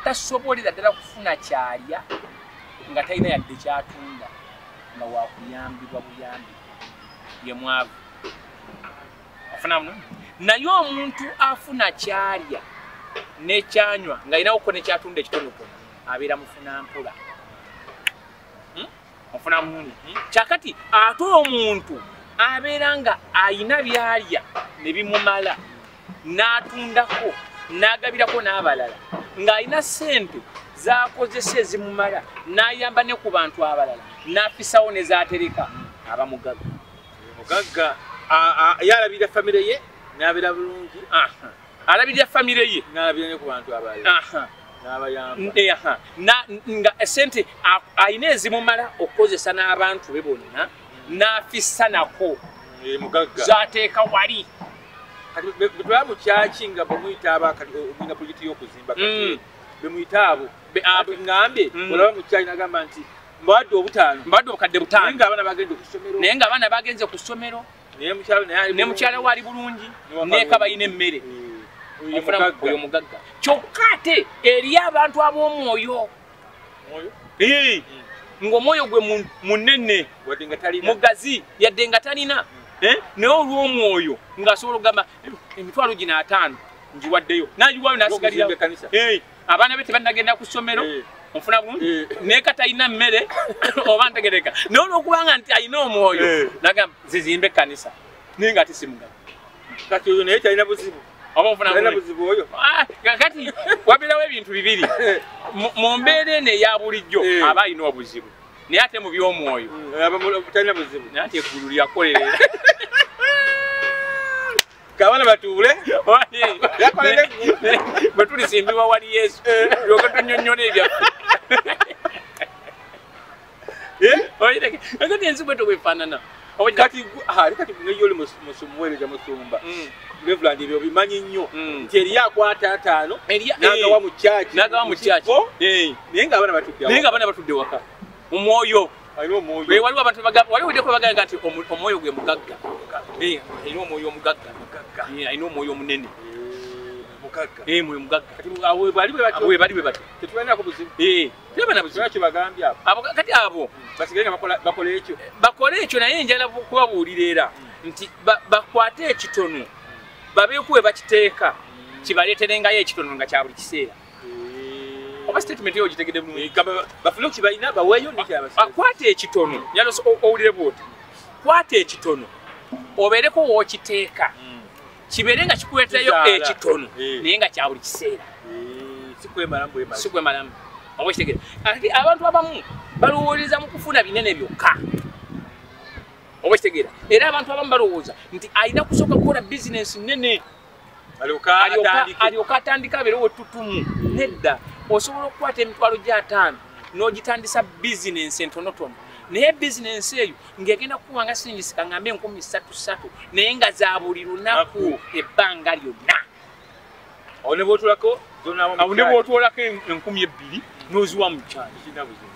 tasobolera ddala kufuna kyalya nga talina yadde kyatunda nga wakuyambibwa buyambi ye mwavu afunamu naye omuntu afuna kyalya nekyanywa nga alinawo ko nekyatunda ekitonotono abeera mufuna mpola ofuna bulungi kyakati ate omuntu abeera nga ayina byalya ne bimumala n'atundako n'agabirako n'abalala ng'alina ssente z'akozesa ezimumala n'ayamba ne ku bantu abalala n'afisawo ne z'atereka aba mugagga mugagga yalabirira famire ye n'abeera bulungi alabirira famire ye nga esente alina ezimumala okukozesa n'abantu be bonna n'afissa nako eh, zateeka wali bwebamukyaki nga bamuyita abakatiina pulojekiti y'okuzimba mm. bemuyita abo ngambye mm. olaba mukyaki nagamba nti mbadde obutaano mbadde obukadde butaano naye ng'abaana bagenze ku ssomero ne mukyala we ali bulungi neeka balina emmere oyo mugagga kyokka ate eriyo abantu ab'omwoyo ng'omwoyo gwe munene mugazi yadde nga talina hmm. eh? naye olw'omwoyo ng'asobola okugamba eh, emitwalo gino ataano ngiwaddeyo nagiwayo nasigalira abaana be tebannagenda ku ssomero eh. ofuna bulungi eh. naye kati alina mmere oba ntegereka naye olwokubanga nti alina omwoyo eh. nagamba zizimba ekkanisa naye nga tisimuga kati oyo naye kyalina buzibu oba ofuna buzibu oyo ah, kati wabeerawo ebintu bibiri mu mbeera eno eya bulijjo aba alina obuzibu naye ate mu by'omwoyo mm, talina buzibu naye ati eggulu lyakolerera kabana batuule bwe tulisimbibwa wali yesu yoka tunyonyola ebyaffe kati ensi bwe tobwefaanana kati kati ngeyo oli musumuweereza musumba mm. reverand ebyo bimanyi nnyo mm. nti eriyo akwata ataano nagawa mu kyaki nagawa mu kyaki naye nga abaana batudde naye nga abaana batudde waka mu mwoyo waliwo abantu waliwo deko bagamba nti omwoyo gwe mugagga alina omwoyo omugagga alina omwoyo omunene eh, mwoyo mugaggabali bwe batyo kati abo bakole ekyo naye njala kubabuulira era hmm. nti bakwate ekitono babeekuwe bakiteeka kibaleeterengayo ekitono nga kya buli kiseera oba statement yo ogitegede bulungi eh, gamba bafune kibalina baweyo nikyabasa ah, kwata ekitono nyalo owulire bwoti kwata ekitono obeereko wookiteeka hmm. kibeere nga kikuleetayo ekitono eh. naye nga kyabuli kiseera eh, sikwemalamu oba kitegere ati abantu abamu balowooleza mu kufuna binene byokka oba kitegera era abantu abamu balowooza nti alina kusooka kukola bizinensi nene alyoka atandika abeere wetutumu nedda osobola okukwata emitwalo gyataano n'ogitandisa bizinensi entonotono naye bizinensi eyo ng'egenda kukuwa nga singisika ngambe enkumi satu satu naye nga za buli lunaku ebbanga lyonna awo ne bwotwolako enkumi ebbiri n'oziwa mu kyalo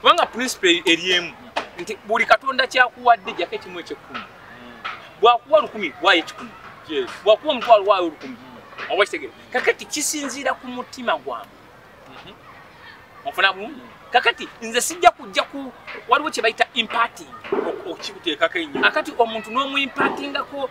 kubanga principle eri emu nti buli katonda kyakuwadde jako ekimu ekyekkumi bwakuwa lukumi waayo ekikumi bwakuwa omutwalo waayo olukumi oba kitegere kakati kisinziira ku mutima gwange mhm. ofuna bumu kakati nze sijja kujja ku waliwo kye bayita impating okukikuteekako enyo akati omuntu n'omuimpatingako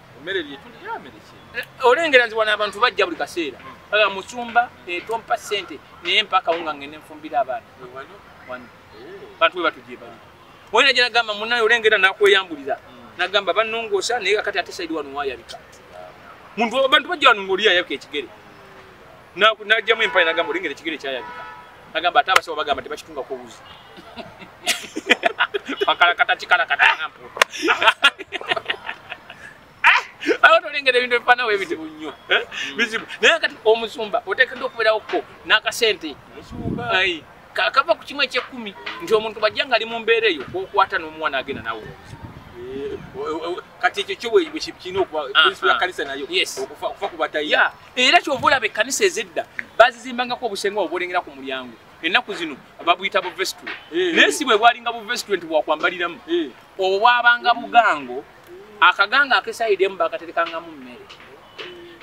Mmere lye tuli ya mmere ki? Eh, olengera nti wana abantu bajja buli kaseera. Hmm. Aga musumba etompa eh, sente naye mpaka unga ngene nfumbira abaana. Wano wano. Eh. Bantu we batujje bali. Wena jana gamba munayo olengera nakweyambuliza. Hmm. Nagamba banongosa naye akati ate side wano wayabika. Muntu abantu bajja wano ngoliya yabika ekigere. Na najja mu empire nagamba olengera ekigere kyayabika. Nagamba ate abasawo bagamba tebakitunga ko wuzi. bakalakata kikalakata ah! nga mpuuta ah! awo tolengera ebintu ebifanawo ebizibu nnyo eh? hmm. bizibu naye kati omusumba otekedde okubeerawo ko n'akasente kava ku kimu ekyekkumi nti omuntu bajja nga ali mu mbeera eyo kwokwata n'omwana agenda nawe kati ekyo kyo bwekirina okubaprinsipal yakanisa nayo okufa ku batayi era kyova olaba ekkanisa ezedda bazizimbangako obusenga obwolengera ku mulyango ennaku zino babuyita buvesitule eh. naye si bwe bwalinga buvesitule nti bwakwambaliramu eh. obwo bwabanga bugango akaganga akesaidemu bakaterekangamu mmere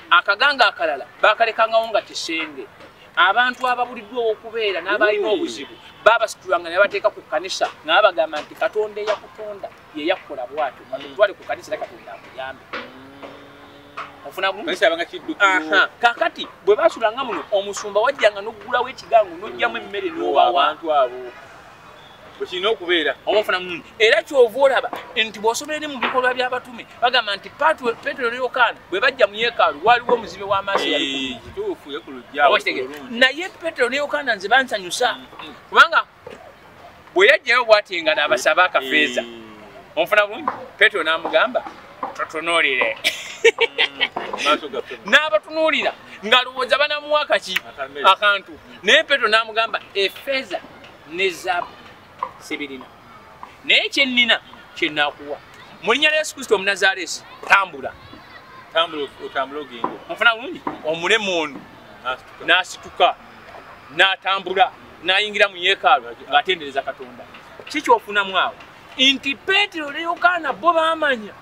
akaganga akalala bakalekangawo nga kisenge abantu ababuliddwa owokubeera n'abalina obuzibu babasitulanga ne bateeka ku kkanisa nga babagamba nti katonda eyakutonda yeyakukola bwatyo mutwale ku kanisa era katonda akuyambe kakati bwe basulanga muno omusumba wajjanga noggulawo ekigango nojjamu emmere nobawantu abo bwekirina okubeera oba ofuna mumu era kyova olaba nti bw'osobola eri mu bikolwa by'abatume bagamba nti petero ne yokaana bwe bajja mu yeekaalu waaliwo omuzibe w'amaaso naye petero ne yokaana nze bansanyusa mm, mm. kubanga bwe yajjayo bwati nga n'abasaba akafeeza eh. onfuna bulungi petero n'amugamba totunuulire mm. n'abatunuulira ng'alowooza banamuwa kaki akantu naye petero n'amugamba efeeza ne zaabu sibirina naye kyennina kyenaakuwa mu linnya lya yesu kristo omunazaaleesi tambula tambula otambula ogende onfuna bulungi omulemu ono n'asituka n'atambula n'ayingira mu yeekaalu ng'atendereza katonda ki kyofunamu awo nti peetero ne yokaana bo baamanya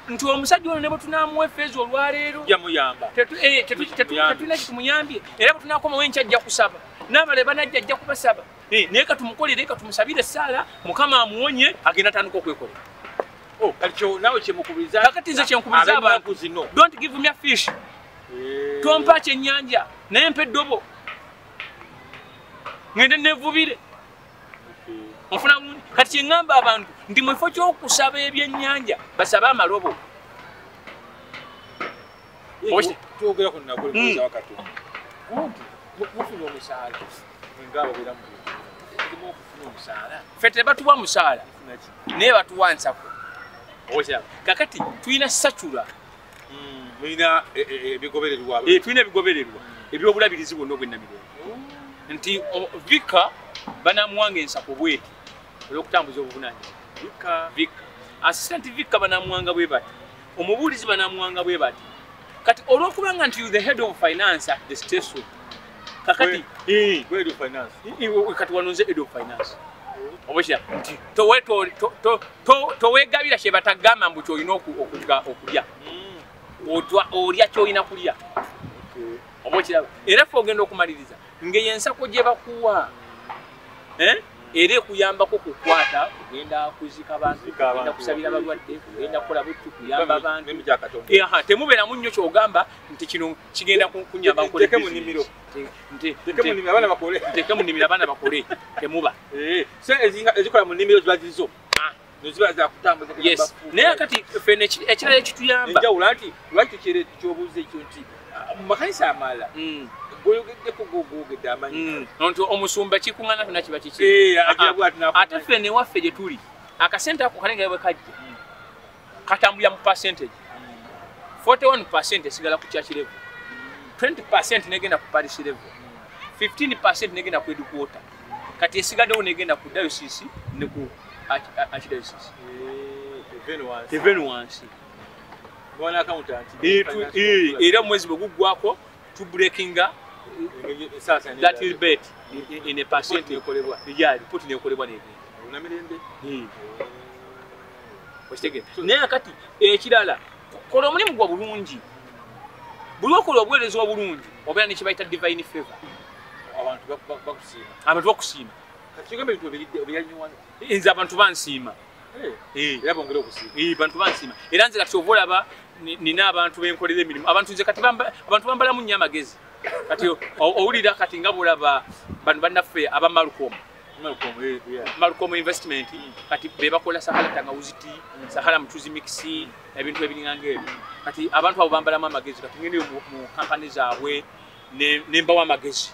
nti omusajja ono ne bwe tunaamuwa efeeza olwaleero yamuyamba eh, tetulina kitumuyambye era bwe tunaakomawo enkya ajja kusaba n'abale banajja ajja kubasaba eh, naye katumukolere katumusabire esaala mukama amuwonye agenda atandika okwekolera oh, kakati nze kyenkubiriza abantu don't give me a fish eh. tompa kyenyanja naye mpa eddobo ngende nevubire ofuna bulungi kati kyeŋŋamba abantu ndi mu kifo ky'okusaba ebyennyanja basabe amalobo twogera ku naguli kuza wakati kumpi mufuna omusaala ngaabo bera mu kimu okufuna omusaala fe tebatuwa musaala naye batuwa nsako kakati tulina sacula tulina e, e, e, ebigobererwa eh, tulina ebigobererwa ebyobulabirizi bwonna obwennamirembe nti vika banamuwanga ensako bweti olwokutambuza obuvunanyizibwa vika assistant vika banamuwanga bwe bati omubuulizi banamuwanga bwe bati kati olwokubanga nti the head of finance at the station kakati eh. kati wanonze edo finance obukira nti towegabira kyebatagamba mbu kyolina okulya hmm. olya kyolina kulya obukiraba era fe ogenda okumaliriza ngeyo ensako gyebakuwa eh? era ekuyambako kukwata kugenda kuzika bantu kugenda kusabira balwadde kugenda kukola buttu kuyamba bantu temubeeramu nnyo kyogamba nti kino kigenda kunyamba nkole teke munimiro nti teke munimiro abana bakole teke munimiro abana bakole temuba eh se ezinga ezikola munimiro zwazizo ah. noziba za kutambuza kugamba yes naye kati fene ekirala ekituyamba enja ulanti lwaki kire kyobuze ekyo nti ah, makanisa amala mm. goyogeddeko gogogedde amanyi mm. nti omusumba kikungana tona kiba kiki eh, ah, ate fene waffe gye tuli akasente ako kalengera bwe kajja mm. katambulira mu percentage 41 percent esigala ku church level 20 percent negenda ku parish level 15 percent negenda ku edukuota kati esigaddewo negenda ku diocese ne ku archdiocese even wansi era omwezi bwe guggwako to breakinga that will bet in a percent ekolebwa ejali poti nekolebwa negenda naye kati ekirala kola omulimu gwa bulungi buli okola obuweereza obulungi obeera nekibayita divine favor abantu bakusiima nze abantu bansiima eh, eh. Eh, bantu bansiima era nze kati ova olaba nina abantu benkolera emirimu abantu nze kati abantu bambalamu nnyo amagezi kati owulira kati nga bulaba bano bannaffe abamalukomu malcom investment kati bebakola sahala tangawuziti mm. sahala mucuzi mixi ebintu ebiringanga ebyo kati abantu abo bambalamu amagezi kati ngendeyo mu kampani zaabwe nembawo amagezi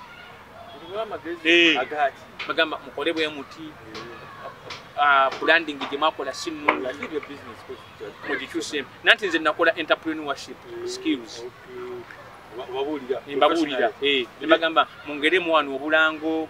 eh, bagamba mukole bwe muti ah, branding gye mwakola simugikyuse nanti nze nakola entrepreneurship eh, skills mbabuulira eh, nebagamba mungeremu wano obulango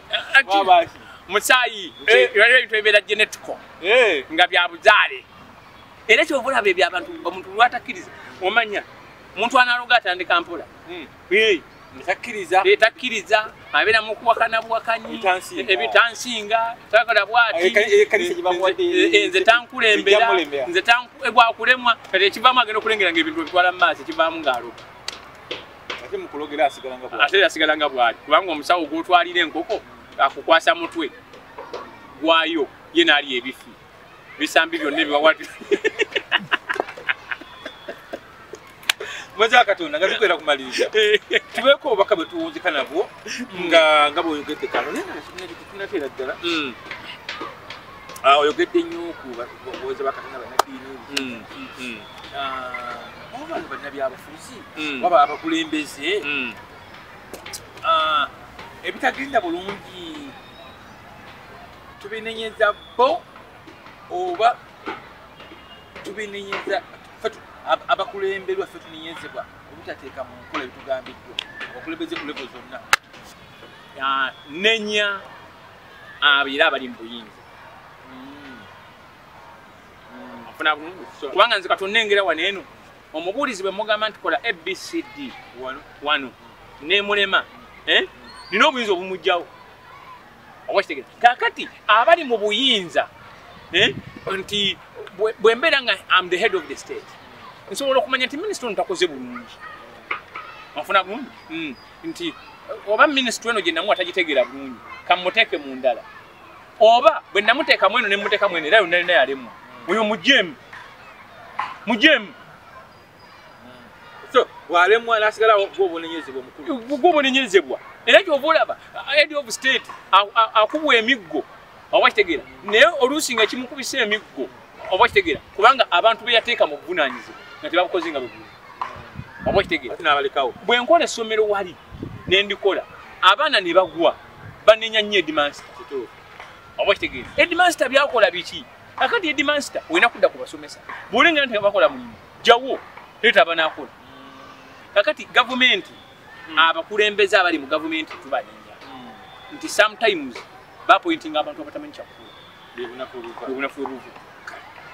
musaayi eh. waliwo ebintu ebibeera genetico eh. nga bya buzaale era kyova olaba ebyo abantu omuntu lwatakkiriza omanya omuntu analoga atandika mpola hmm. eh. takkiriza abeera mukuwakana buwakanyi ebitansinga takola bwatinze tankulembera nze gwakulemwa kati ekivamu agenda okulengera nga ebintu ebitwala mu maaso ekivaamu ng'aloga ate mukulogera asigala nga bwali ate asigala nga bwali kubanga omusawo gwotwalira enkoko akukwasa mutwe gwayo ye nali ebifi bisambi byonna ebiwawati mwezi wakatonda nga tukwera kumaliriza tubeeko obubaka bwe tuwunzika nabwo nga nga bwoyogedde kano nayenateera ddala mm. ah, oyogedde nnyo kubawoza bakatonda banaddiini mm, mm, ah, obantu bannabyabufu byabufuzi mm. waba abakulembeze mm. ah, ebitagenda bulungi tubinenyeza bo oba tubinenyeza abakulemberwa fe tunenyezebwa obutateeka mu nkola ebitugambiddwa abakulembeze ku levo zonna ah, nenya abeera ah, abali mu buyinza mm. kubanga nze katonda engera wano eno omubuulizi bwe mugamba nti kola abcd wano nemulema eh? nina obuyinza obumugjawo owakitegera kakati abali mu buyinza eh? nti bwembeera nga am the head of the state nsobola okumanya nti minisita ono takoze bulungi onfuna bulungi hmm. nti oba minisita eno gyenamu atagitegeera bulungi kamuteeke mu ndala oba bwe namuteeka mweno ne muteeka mweno era yonna yonna yalemwa oyo mujemu mujemu walemwa nasigala gwobonenyezebwa omukulu gwobonenyezebwa era kyova olaba head of state akubwa emiggo oba kitegeera naye oluusi nga kimukubisa emiggo oba kitegeera kubanga abantu beyateeka mu buvunanyizibwa nga tebabukoze nga bwegulu oba kitegeera bwenkola essomero wali nendikola abaana ne bagwa banenya nnyo edimansta kituufu oba kitegeeza edimansta byakola biki akati edimansta olina kudda ku basomesa bwolenga nti abakola mulimu jawo leeta abanakola kakati gavumenti hmm. abakulembeze abali mu gavumenti tubanenya hmm. nti sometimes bapointinga abantu abatamanyi kyakkola bebunafu obuvu